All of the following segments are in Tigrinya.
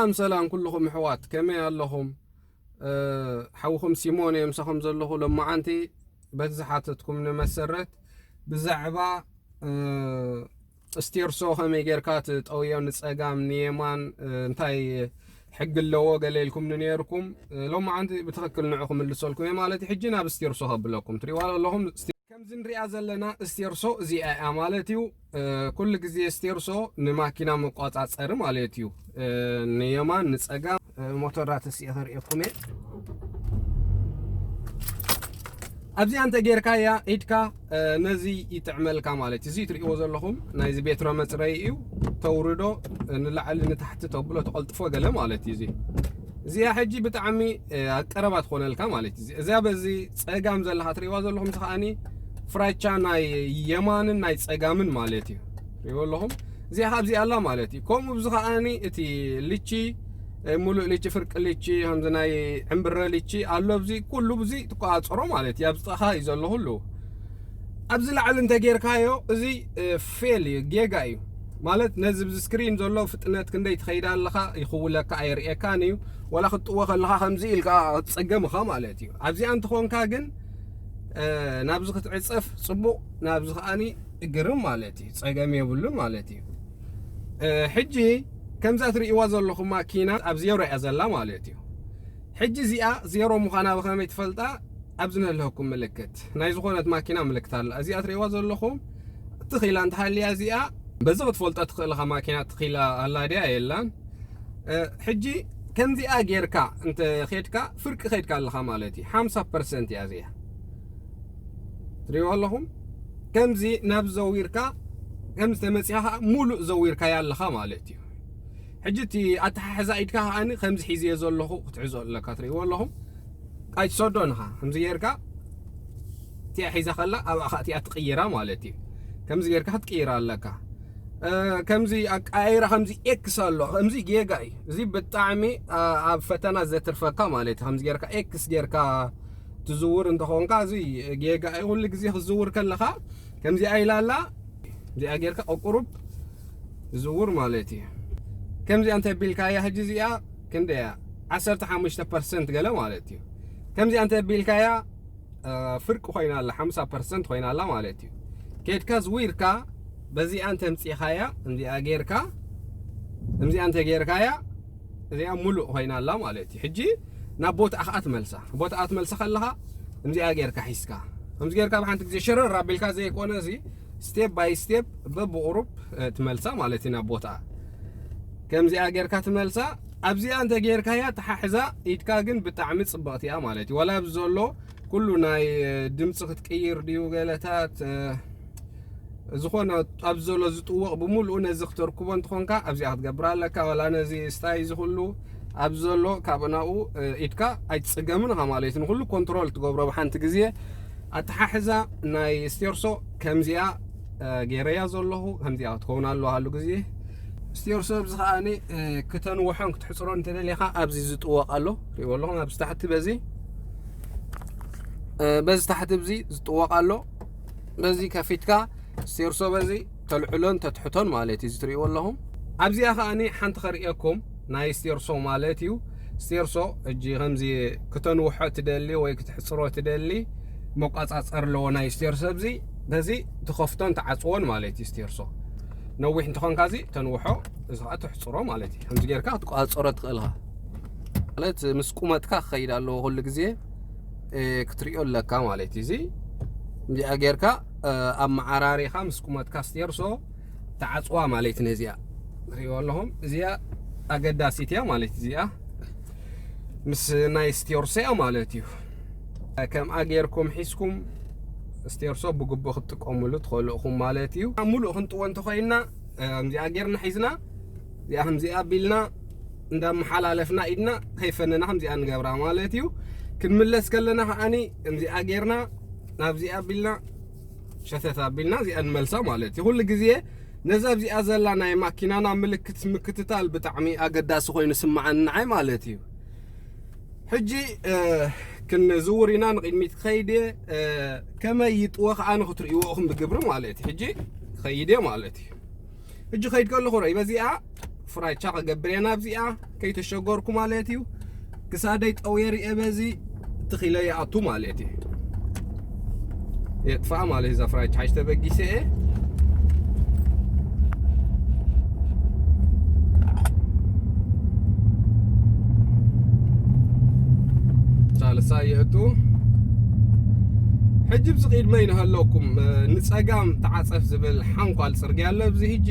ሰላም ሰላም ኩልኹም ኣሕዋት ከመይ ኣለኹም ሓውኹም ሲሞን እየ ምሳኹም ዘለኹ ሎማዓንቲ በቲ ዝሓተትኩም ንመሰረት ብዛዕባ ጥስቴርሶ ከመይ ጌርካ ትጠውዮ ንጸጋም ንየማን እንታይ ሕጊ ኣለዎ ገለ ኢልኩምኒ ነይርኩም ሎማዓንቲ ብትኽክል ንዑ ክምልሰልኩም እየ ማለት እዩ ሕጂ ናብ ስቴርሶ ከብለኩም ትሪእዋ ኣለኹም ከምዚ ንሪኣ ዘለና እስቴርሶ እዚኣ እያ ማለት እዩ ኩሉ ግዜ ስቴርሶ ንማኪና መቋጻጸሪ ማለት እዩ ንየማን ንጸጋም ሞተራትስ እየ ከርእየኩም እየ ኣብዚኣ እንተ ጌርካያ ኢድካ ነዚ ይጥዕመልካ ማለት እዩ እዚ ትርእይዎ ዘለኹም ናይዚ ቤትሮ መፅረይ እዩ ተውርዶ ንላዕሊ ንታሕቲ ተብሎ ተቐልጥፎ ገለ ማለት እዩ እዚ እዚኣ ሕጂ ብጣዕሚ ኣቀረባ ትኾነልካ ማለት እዩ እዚያ በዚ ፀጋም ዘለካ ትርእይዋ ዘለኹም እዚ ከዓኒ ፍራቻ ናይ የማንን ናይ ፀጋምን ማለት እዩ ሪዎ ኣለኹም እዚኣ ካብዚ ኣላ ማለት እዩ ከምኡ ብዚ ከዓኒ እቲ ልቺ ሙሉእ ልቺ ፍርቂ ልቺ ከምዚ ናይ ዕምብረ ልቺ ኣሎ ብዚ ኩሉ ብዚ ትቆፃፀሮ ማለት እዩ ኣብዚ ጥቃኻ እዩ ዘሎ ኩሉ ኣብዚ ላዕሊ እንተጌርካዮ እዚ ፌል እዩ ጌጋ እዩ ማለት ነዚ ብዚ ስክሪን ዘሎ ፍጥነት ክንደይ ትኸይድ ኣለኻ ይኽውለካ ኣየርእየካን እዩ ወላ ክትጥዎ ከለኻ ከምዚ ኢልካ ክትፀገም ኢኻ ማለት እዩ ኣብዚኣ እንትኾንካ ግን ናብዚ ክትዕፀፍ ፅቡቕ ናብዚ ከዓኒ ግርም ማለት እዩ ጸገም የብሉን ማለት እዩ ሕጂ ከምዛ ትርእይዋ ዘለኹም ማኪና ኣብ ዜሮ እያ ዘላ ማለት እዩ ሕጂ እዚኣ ዜሮ ምዃና ብኸመይ ትፈልጣ ኣብዚ ንህልሀኩም ምልክት ናይ ዝኾነት ማኪና ምልክት ኣላ እዚኣ ትርእይዋ ዘለኹም ትኺላ እንተሃልያ እዚኣ በዚ ክትፈልጦ ትኽእልኻ ማኪና ትኺላ ኣላ ድያ የላን ሕጂ ከምዚኣ ጌርካ እንተ ኼድካ ፍርቂ ኼድካ ኣለኻ ማለት እዩ ሓምሳ ፐርሰንት እያ እዚኣ ትሪእዎ ኣለኹም ከምዚ ናብ ዘዊርካ ከም ዝተመጽኣ ኸኣ ሙሉእ ዘዊርካያ ኣለኻ ማለት እዩ ሕጂ እቲ ኣተሓሕዛ ኢድካ ኸኣኒ ከምዚ ሒዝዮ ዘለኹ ክትሕዞ ኣለካ ትርእይዎ ኣለኹም ቃይ ትሰዶ ንኻ ከምዚ ጌርካ እቲኣ ሒዛ ከላ ኣብኣ ኸኣ እቲኣ ትቕይራ ማለት እዩ ከምዚ ጌርካ ክትቅይራ ኣለካ ከምዚ ኣቀያይራ ከምዚ ኤክስ ኣሎ ከምዚ ጌጋ እዩ እዚ ብጣዕሚ ኣብ ፈተና ዘትርፈካ ማለት እዩ ከምዚ ጌርካ ኤክስ ጌርካ ትዝውር እንተኾንካ እዚ ጌጋ እዩ ኩሉ ግዜ ክትዝውር ከለኻ ከምዚኣ ኢላ ኣላ እዚኣ ጌርካ ቁቁሩብ ዝውር ማለት እዩ ከምዚኣ እንተቢልካያ ሕጂ እዚኣ ክንደያ ዓሰርተ ሓሙሽተ ፐርሰንት ገለ ማለት እዩ ከምዚኣ እንተቢልካያ ፍርቂ ኮይና ኣላ ሓምሳ ፐርሰንት ኮይና ኣላ ማለት እዩ ኬድካ ዝዊርካ በዚኣ እንተምፂኻያ እዚኣ ጌርካ እዚኣ እንተጌርካያ እዚኣ ሙሉእ ኮይና ኣላ ማለት እዩ ሕጂ ናብ ቦትኣ ከዓ ትመልሳ ቦትኣ ትመልሳ ከለካ እምዚኣ ጌርካ ሒዝካ ከምዚ ጌርካ ብሓንቲ ግዜ ሸረር ኣቢልካ ዘይኮነ እዚ ስቴፕ ባይ ስቴፕ በብቑሩብ ትመልሳ ማለት እዩ ናብ ቦትኣ ከምዚኣ ጌርካ ትመልሳ ኣብዚኣ እንተ ጌርካያ ተሓሕዛ ኢድካ ግን ብጣዕሚ ጽብቕቲ እያ ማለት እዩ ዋላ ኣብዚ ዘሎ ኩሉ ናይ ድምፂ ክትቅይር ድዩ ገለታት ዝኾነ ኣብዚ ዘሎ ዝጥወቕ ብምሉኡ ነዚ ክተርክቦ እንትኾንካ ኣብዚኣ ክትገብር ኣለካ ዋላ ነዚ ስታይ እዚ ኩሉ ኣብዚ ዘሎ ካብ ናብኡ ኢድካ ኣይትፅገምን ኢኻ ማለት እዩ ንኩሉ ኮንትሮል ትገብሮ ብሓንቲ ግዜ ኣተሓሕዛ ናይ ስቴርሶ ከምዚኣ ገይረያ ዘለኹ ከምዚኣ ክትከውን ኣለዋ ሃሉ ግዜ ስቴርሶ ኣብዚ ከዓ ክተንውሖን ክትሕፅሮን እንተደሊኻ ኣብዚ ዝጥወቕ ኣሎ ሪእዎ ኣለኹም ኣብዚ ታሕቲ በዚ በዚ ታሕቲ እዚ ዝጥወቕ ኣሎ በዚ ከፊትካ ሴርሶ በዚ ተልዕሎን ተትሕቶን ማለት እዩ እዚ ትርእይዎ ኣለኹም ኣብዚኣ ከኣ ሓንቲ ከርእየኩም ናይ ስቴርሶ ማለት እዩ ስቴርሶ እጂ ከምዚ ክተንውሖ ትደሊ ወይ ክትሕፅሮ ትደሊ መቋፃፀር ኣለዎ ናይ ስቴርሶ እዚ በዚ ትኸፍቶን ትዓፅዎን ማለት እዩ ስቴርሶ ነዊሕ እንትኾንካ እዚ ተንውሖ እዚ ከዓ ትሕፅሮ ማለት እዩ ከምዚ ጌርካ ክትቋፀሮ ትኽእል ኢኻ ማለት ምስ ቁመትካ ክኸይድ ኣለዎ ኩሉ ግዜ ክትሪኦ ኣለካ ማለት እዩ እዚ እንዲኣ ጌርካ ኣመዓራሪኻ ምስ ቁመትካ ስቴርሶ ተዓፅዋ ማለት እዩ ነዚኣ ትሪእዎ ኣለኹም እዚኣ ኣገዳሲት እያ ማለት እዚኣ ምስ ናይ ስቴርሶ እያ ማለት እዩ ከምኣ ጌርኩም ሒዝኩም ስቴርሶ ብግቡእ ክትጥቀሙሉ ትኽእሉ ኢኹም ማለት እዩ ሙሉእ ክንጥዎ እንተኮይንና ከምዚኣ ጌርና ሒዝና እዚኣ ከምዚኣ ኣቢልና እንዳመሓላለፍና ኢድና ከይፈነና ከምዚኣ ንገብራ ማለት እዩ ክንምለስ ከለና ከዓኒ እምዚኣ ጌርና ናብዚኣ ኣቢልና ሸተት ኣቢልና እዚኣ ንመልሳ ማለት እዩ ኩሉ ግዜ ነዛ ኣብዚኣ ዘላ ናይ ማኪናና ምልክት ምክትታል ብጣዕሚ ኣገዳሲ ኮይኑ ስማዓኒ ንዓይ ማለት እዩ ሕጂ ክንዝውር ኢና ንቕድሚት ክኸይድ እየ ከመይ ይጥወ ከዓ ንክትርእይዎ ኢኹም ብግብሪ ማለት እዩ ሕጂ ክኸይድ እየ ማለት እዩ ሕጂ ከይድ ከለኹ ርእይ በዚኣ ፍራቻ ክገብር እየ ናብዚኣ ከይተሸገርኩ ማለት እዩ ክሳደይ ጠውየ ርየ በዚ ትኺለ ይኣቱ ማለት እዩ የጥፋ ማለት እዩ እዛ ፍራቻ ሓጅ ተበጊሰ እየ ሳልሳ የእቱ ሕጂ ብዚ ቅድመ ይንሃለኩም ንፀጋም ተዓፀፍ ዝብል ሓንኳል ጽርግያ ኣሎ ኣብዚ ሕጂ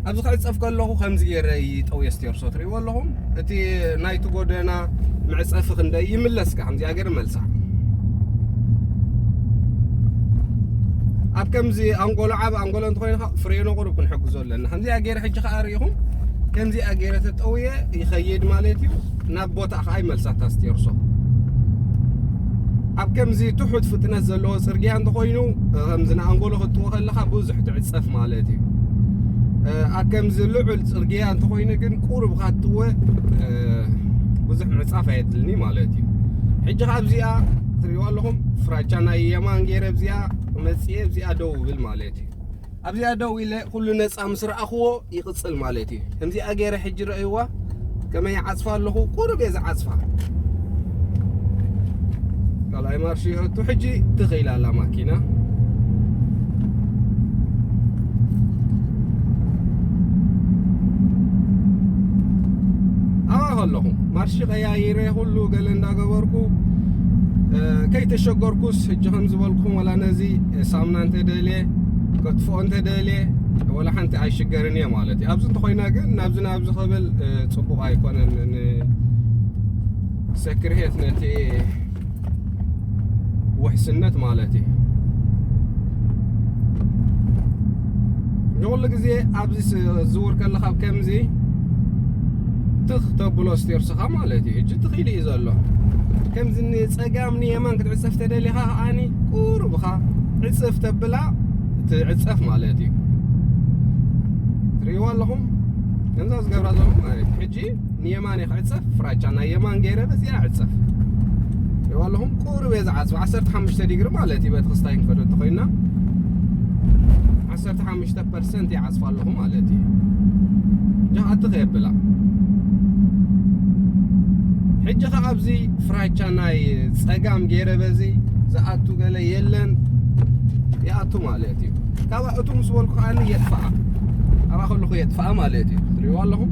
ኣብዚ ክዕጸፍ ከለኹ ከምዚ ገይረ ጠውየ ስቴርሶ ትርእይዎ ኣለኹም እቲ ናይቲ ጎደና መዕጸፊ ክንደይ ይምለስ ከምዚኣ ገይረ መልሳ ኣብ ከምዚ ኣንጎሎ ዓብ ኣንጎሎ እንተኮይኑ ፍሬኖ ቁሩብ ክንሕግዞ ኣለና ከምዚኣ ገይረ ሕጂ ከዓ ርኢኹም ከምዚኣ ገይረ ተጠውየ ይኸይድ ማለት እዩ ቦታ ከኣ ይመልሳ ታስቴርሶ ኣብ ከምዚ ትሑት ፍጥነት ዘለዎ ጽርግያ እንተኾይኑ ከምዚ ንኣንጎሎ ክትጥዎ ከለኻ ብዙሕ ትዕጸፍ ማለት እዩ ኣብ ከምዚ ልዑል ጽርግያ እንተኾይኑ ግን ቁሩብ ካትወ ብዙሕ ምዕጻፍ ኣየድልኒ ማለት እዩ ሕጂ ካብ እዚኣ ትሪእዋ ኣለኹም ፍራቻ ናይ የማን ገይረ ብዚኣ መጽኤ ብዚኣ ደው ብል ማለት እዩ ኣብዚኣ ደው ኢለ ኩሉ ነጻ ምስ ረኣኹዎ ይቕጽል ማለት እዩ። ከምዚኣ ገይረ ሕጂ ረእይዋ ከመይ ይዓጽፋ ኣለኹ ቁሩብ እየ ዝዓጽፋ። ካልኣይ ማርሽ ይኣቱ ሕጂ ትኽ ኢላ ኣላ ማኪና ኣለኹ ማርሽ ቀያይረ ኩሉ ገለ እንዳገበርኩ ከይተሸገርኩስ ሕጂ ከም ዝበልኩም ዋላ ነዚ ሳምና እንተደልየ ከጥፍኦ እንተደልየ ወላ ሓንቲ ኣይሽገርን እየ ማለት እዩ ኣብዚ እንተኮይነ ግን ናብዚ ናብዚ ክብል ፅቡቅ ኣይኮነን ንሰክርሄት ነቲ ውሕስነት ማለት እዩ ንኩሉ ግዜ ኣብዚ ዝውር ከለካ ከምዚ ትኽ ተብሎ ስቴርስኻ ማለት እዩ እጅ ትኽኢሉ እዩ ዘሎ ከምዚ ጸጋም ንየማን ክትዕጸፍ ተደሊኻ ከኣኒ ቁሩብ እኻ ዕጽፍ ተብላ ትዕጸፍ ማለት እዩ ትርእይዋ ኣለኹም ከምዛ ዝገብራ ዘለኹም ማለት እዩ ሕጂ ንየማን እየ ክዕጸፍ ፍራቻ ናይ የማን ገይረ በዚኣ ዕጸፍ ትርእይዋ ኣለኹም ቁሩብ እየ ዝዓጽፍ 15 ዲግሪ ማለት እዩ በቲ ክስታይ ክንከዶ እንተኾይንና ዓሰርተ ሓሙሽተ ፐርሰንት ይዓፅፋ ኣለኹ ማለት እዩ ጃሃቲ ከየብላ ሕጂ ከዓ ኣብዚ ፍራቻ ናይ ፀጋም ገይረ በዚ ዝኣቱ ገለ የለን ይኣቱ ማለት እዩ ካብኣ እቱ ምስ በልኩ ከዓ የጥፍኣ ኣብኣ ከለኹ የጥፍኣ ማለት እዩ ትሪእዎ ኣለኹም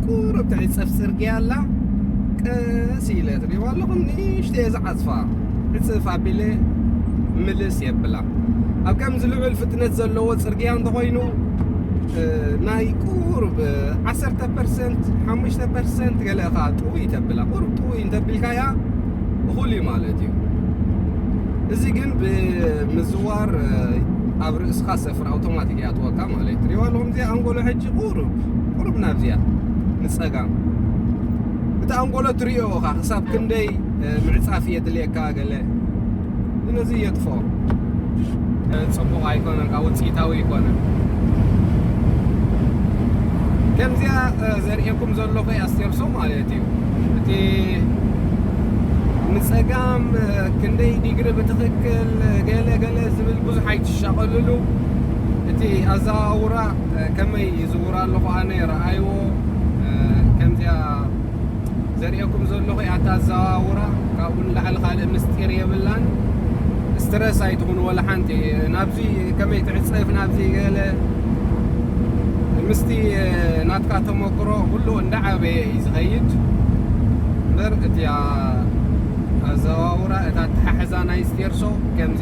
ቁሩብ ትሕቲ ጸፍሒ ጽርግያ ኣላ ቀስ ኢለ ትርእይዋ ኣለኹም ንእሽተይ ዝዓጽፋ ዕጽፍ ኣቢለ ምልስ የብላ ኣብ ከምዚ ልዑል ፍጥነት ዘለዎ ጽርግያ እንተኾይኑ ናይ ቁሩብ ዓሰርተ ፐርሰንት ሓሙሽተ ፐርሰንት ገለ እኻ ጥውይ ተብላ ቁሩብ ጥውይ እንተብልካያ እኹል እዩ ማለት እዩ እዚ ግን ብምዝዋር ኣብ ርእስኻ ሰፍር ኣውቶማቲክ ይኣትወካ ማለት እዩ ትሪዋ ኣለኹም እዚ ኣንጎሎ ሕጂ ሓንቲ ቁሩብ ቁሩብ ናብዚኣ ንጸጋም እቲ ኣንጎሎ ትሪኦ እኻ ክሳብ ክንደይ ምዕጻፍ የድልየካ ገለ ስለዚ የጥፍኦ ጽቡቕ ኣይኮነን ካብ ውጽኢታዊ ኣይኮነን ከምዚኣ ዘርእየኩም ዘለኹ ኣስቴርሶ ማለት እዩ እቲ ንጸጋም ክንደይ ዲግሪ ብትኽክል ገለ ገለ ዝብል ብዙሕ ኣይትሻቐልሉ እቲ ኣዘዋውራ ከመይ ይዝውር ኣለኹ ኣነ ረኣይዎ ከምዚኣ ዘርእየኩም ዘለኹ ኣታ ኣዘዋውራ ካብኡ ንላዕሊ ካልእ ምስጢር የብላን ስትረስ ኣይትኹኑ ወላ ሓንቲ ናብዚ ከመይ ትዕፀፍ ናብዚ ገለ ምስቲ ናትካ ተመክሮ ኩሉ እንዳዓበየ እዩ ዝኸይድ እምበር እቲያ ኣዘዋውራ እታ ኣተሓሕዛ ናይ ስቴርሶ ከምዚ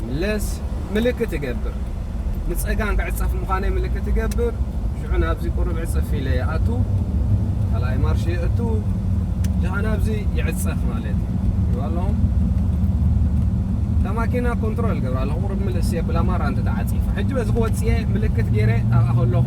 ይምለስ ምልክት እገብር ንጸጋም ክዕጸፍ ምዃነይ ምልክት እገብር ሽዑ ናብዚ ቁሩብ ዕጽፍ ኢለ ይኣቱ ካልኣይ ማርሽ የእቱ ድኣ ናብዚ ይዕጸፍ ማለት እዩ ይዋሎ ማኪና ኮንትሮል ገብራ ኣለኹ ቁሩብ ምልእስ የብላ ማራ እንተ ተዓጺፋ ሕጂ በዚ ክወጽእ ምልክት ገይረ ኣብኣ ከለኹ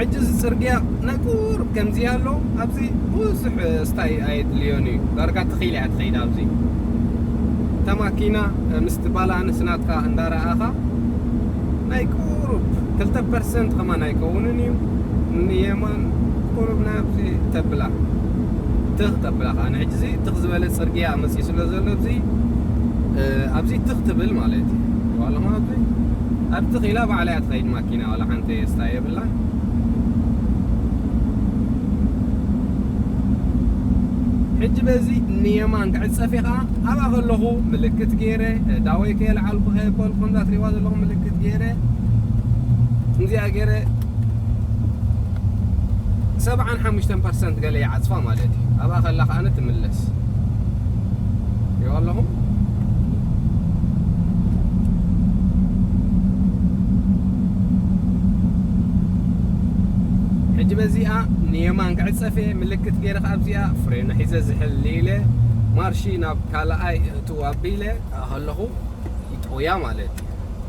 ሕጂ እዚ ጽርግያ ናይ ቁሩብ ከምዚ ኣሎ ኣብዚ ብዙሕ ስታይ ኣየድልዮን እዩ ዳርጋ ተኺል እያ ትኸይድ ኣብዚ እታ ማኪና ምስቲ ባላንስ ናትካ እንዳረኣኻ ናይ ቁሩብ ክልተ ፐርሰንት ከማን ኣይከውንን እዩ ንየማን ቁሩብ ናብዚ ተብላ ትኽ ተብላ ከኣ ንሕጂ እዚ ትኽ ዝበለ ጽርግያ መጽዩ ስለ ዘሎ ኣብዚ ኣብዚ ትኽ ትብል ማለት እዩ ዋላ ማለት ኣብ ትኽ ኢላ ባዕላ እያ ትኸይድ ማኪና ዋላ ሓንቲ ስታ የብላ ሕጂ በዚ ንየማን ክዕፀፍ ኢኻ ኣብኣ ከለኹ ምልክት ገይረ ዳወይ ከየልዓልኩ ከየበልኩ ከምዛ ትሪእዋ ዘለኹም ምልክት ገይረ ከምዚኣ ገይረ ሰብዓን ሓሙሽተን ፐርሰንት ገለ ይዓጽፋ ማለት እዩ ኣብኣ ከላ ከኣ ትምለስ ሪኦ ኣለኹም ሕጂ በዚኣ ንየማን ክዕጸፈ ምልክት ገይረ ከኣ ኣብዚኣ ፍሬኑ ሒዘ ዝሕል ኢለ ማርሺ ናብ ካልኣይ እእትው ኣቢለ ከለኹ ይጠውያ ማለት እዩ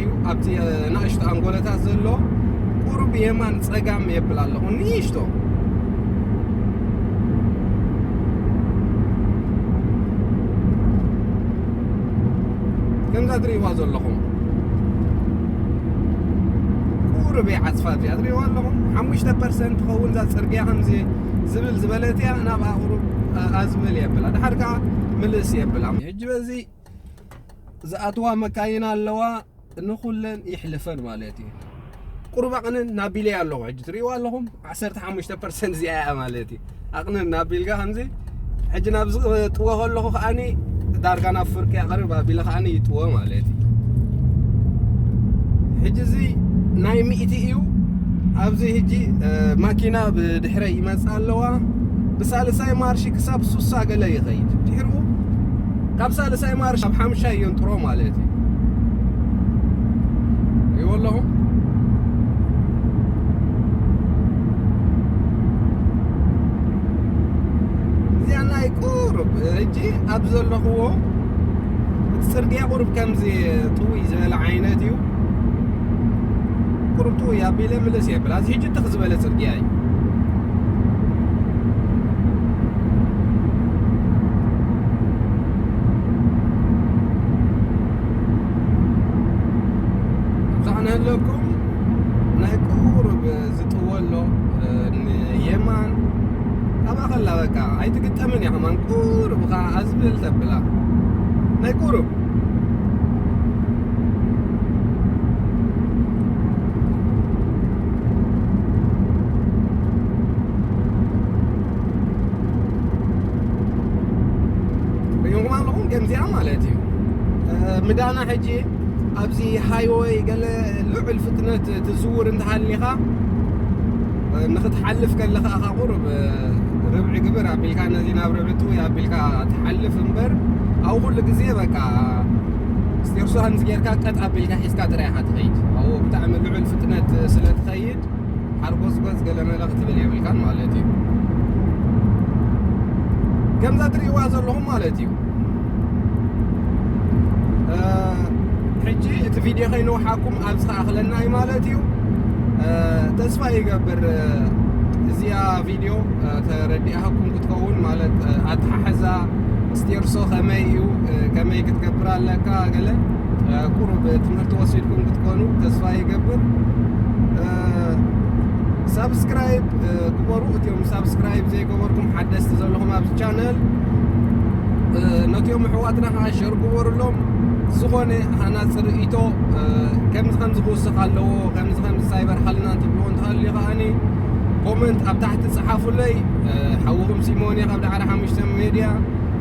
እዩ ኣብቲ ናእሽቱ ኣንጎለታት ዘሎ ቁሩብ የማን ጸጋም የብል ኣለኹ ንእሽቶ ከምዛ ትርእይዋ ዘለኹም ቁሩብ እያ ዓጽፋ እዚኣ ትርእይዋ ኣለኹም ሓሙሽተ ፐርሰንት ትኸውን እዛ ጽርግያ ከምዚ ዝብል ዝበለት እያ ናብኣ ቁሩብ ኣዝብል የብላ ድሓር ከዓ ምልስ የብላ ሕጂ በዚ ዝኣትዋ መካይን ኣለዋ ንኹለን ይሕልፈን ማለት እዩ ቁሩብ ኣቕንን ናቢለይ ኣለኹ ሕጂ ትርእይዎ ኣለኹም 15 ፐርሰንት እዚኣ እያ ማለት እዩ ኣቕንን ናቢልካ ከምዚ ሕጂ ናብ ዝጥወ ከለኹ ከዓኒ ዳርጋ ናብ ፍርቂ ኣቕርብ ኣቢለ ከዓኒ ይጥወ ማለት እዩ ሕጂ እዚ ናይ ሚእቲ እዩ ኣብዚ ሕጂ ማኪና ብድሕረይ ይመፅእ ኣለዋ ብሳልሳይ ማርሺ ክሳብ ሱሳ ገለ ይኸይድ ድሕርኡ ካብ ሳልሳይ ማርሽ ኣብ ሓምሻይ የንጥሮ ማለት እዩ ይዎ ኣለኹ እዚኣ ናይ ቁሩብ እጂ ኣብ ዘለኹዎ እቲ ፅርግያ ቁሩብ ከምዚ ጥውይ ዝበለ ዓይነት እዩ ቁሩብ ጥውይ ኣቢለ ምልስ የብላ እዚ ሕጂ ትኽ ዝበለ ፅርግያ እዩ ኣብዛዕናሃለኩም ናይ ቁሩብ ዝጥወሎ ንየማን ኣብኣ ከላ በቃ ኣይትግጠምን እያ ከማን ቁሩብ ከዓ ኣዝብል ተብላ ናይ ቁሩብ ሪኦም ኣለኹም ከምዚኣ ማለት እዩ ምዳና ሕጂ ኣብዚ ሃይወይ ገለ ልዑል ፍጥነት ትዝውር እንተሃሊኻ ንኽትሓልፍ ከለኻ እኻ ቁርብ ርብዒ ግብር ኣቢልካ ነዚ ናብ ርብዒ ጥውይ ኣቢልካ ትሓልፍ እምበር ኣብ ኩሉ ግዜ በቃ ስቴርሱ ሃንዚ ጌርካ ቀጥ ኣቢልካ ሒዝካ ጥራይ ኢኻ ትኸይድ ኣብኡ ብጣዕሚ ልዑል ፍጥነት ስለ ትኸይድ ሓርጎጽጎጽ ገለመለ ክትብል የብልካን ማለት እዩ ከምዛ ትርእይዋ ዘለኹም ማለት እዩ ሕጂ እቲ ቪድዮ ከይንውሓኩም ኣብ ዝተኣኽለና እዩ ማለት እዩ ተስፋ ይገብር እዚኣ ቪድዮ ተረዲኣኩም ክትከውን ማለት ኣተሓሕዛ ስቴርሶ ከመይ እዩ ከመይ ክትገብር ኣለካ ገለ ቁሩብ ትምህርቲ ወሲድኩም ክትኮኑ ተስፋ ይገብር። ሳብስክራይብ ግበሩ። እትዮም ሳብስክራይብ ዘይገበርኩም ሓደስቲ ዘለኹም ኣብዚ ቻነል ነትዮም ኣሕዋትና ከዓ ሸር ግበሩሎም። ዝኾነ ሃናፂ ርእይቶ ከምዚ ከምዚ ክውስኽ ኣለዎ ከምዚ ከምዚ ሳይበር ሓልና እንትብልዎ እንተሃልዩ ከዓኒ ኮመንት ኣብ ታሕቲ ፀሓፉለይ ሓውኹም ሲሞን እየ ካብ ዳዕሮ ሓሙሽተ ሜድያ